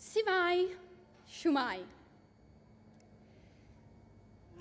Sifai, siwmai.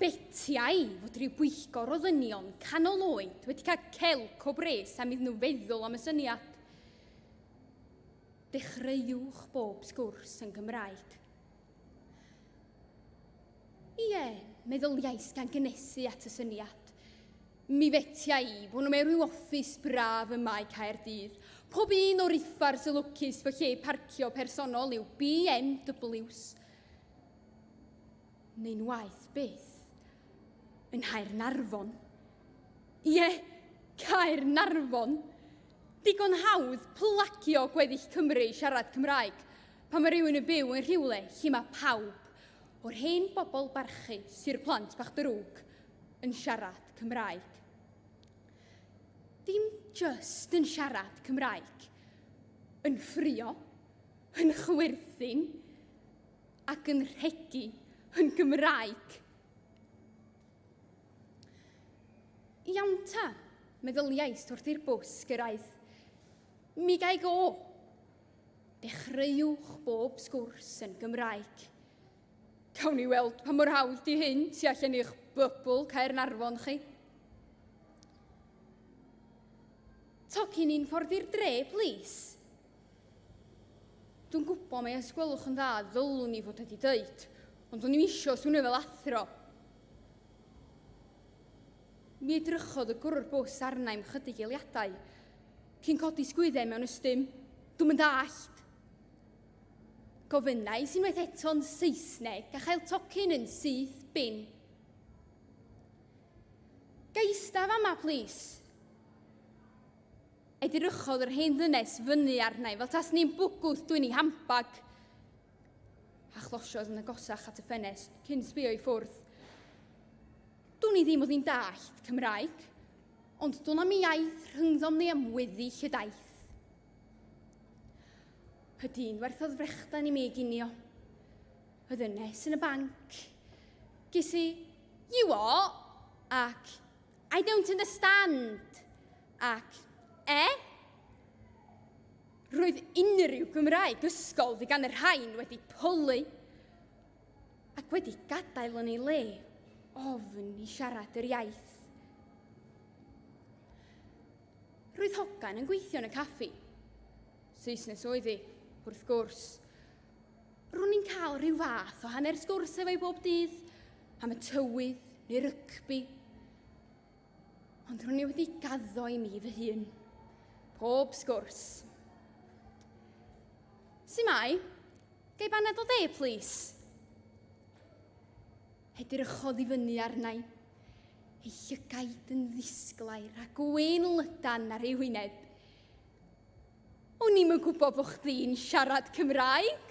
Betiau fod rhyw bwyllgor o ddynion canol oed wedi cael celc o bres am iddyn nhw feddwl am y syniad. Dechreuwch bob sgwrs yn Gymraeg. Ie, meddyliais gan gynesu at y syniad. Mi fetia i, bo nhw mewn rhyw office braf ym Mae Caerdydd. Pob un o'r uffars y lwcus fy lle parcio personol yw BMWs. Neu'n waeth byth. Yn Nghaernarfon. Ie, Caernarfon! Digon hawdd plagio gweddill Cymru i siarad Cymraeg pan mae rhywun yn byw yn rhywle lle mae pawb, o'r hen bobl barchu, sy'r plant bach drwg, yn siarad Cymraeg. Dim just yn siarad Cymraeg, yn ffrio, yn chwerthin ac yn rhegi yn Gymraeg. Iawn ta, meddyliais wrth i'r bws gyrraedd. Mi gael go. Dechreuwch bob sgwrs yn Gymraeg. Gawn ni weld pa mor hawdd di hyn tu allan i'ch bybl Caernarfon chi. Tocyn ni'n ffordd i'r dre, plis. Dwi'n gwybod mae os gwelwch yn dda ddylwn ni fod wedi dweud, ond o'n i'n eisiau swnio fel athro. Mi edrychodd y gwrwr bws arna i'm chydig eiliadau, cyn codi sgwyddau mewn ystym. Dwi'n mynd allt. Gofynnais unwaith eto'n Saesneg a chael tocyn yn syth bin. Ga i ista fama, plis? Edrychodd yr hen ddynes fyny arna i fel tas ni'n bwgwth dwi'n ei hambag a chlosiodd yn agosach at y ffenest cyn sbio i ffwrdd. Dwn i ddim oedd hi'n dallt Cymraeg, ond dwn am iaith rhyngddom ni am weddill y daith. Y dyn werthodd frechdan i mi ginio. Y ddynes yn y banc. Ges i, you what? Ac, I don't understand. Ac, eh? Roedd unrhyw Gymraeg ysgol fi gan y rhain wedi pwlu ac wedi gadael yn ei le ofn i siarad yr iaith. Roedd hogan yn gweithio yn y caffi. Saesnes oedd hi, wrth gwrs. Ro'n i'n cael rhyw fath o hanner sgwrs efo'i bob dydd, am y tywydd neu rygbi. Ond ro'n i wedi gaddo i mi fy hun. Pob sgwrs. Su mai? Gai baned o dde, plis? Edrychodd i fyny arna i, ei llygaid yn ddisglair a gwyn lydan ar ei wyneb. O'n i'm yn gwybod bod chdi'n siarad Cymraeg.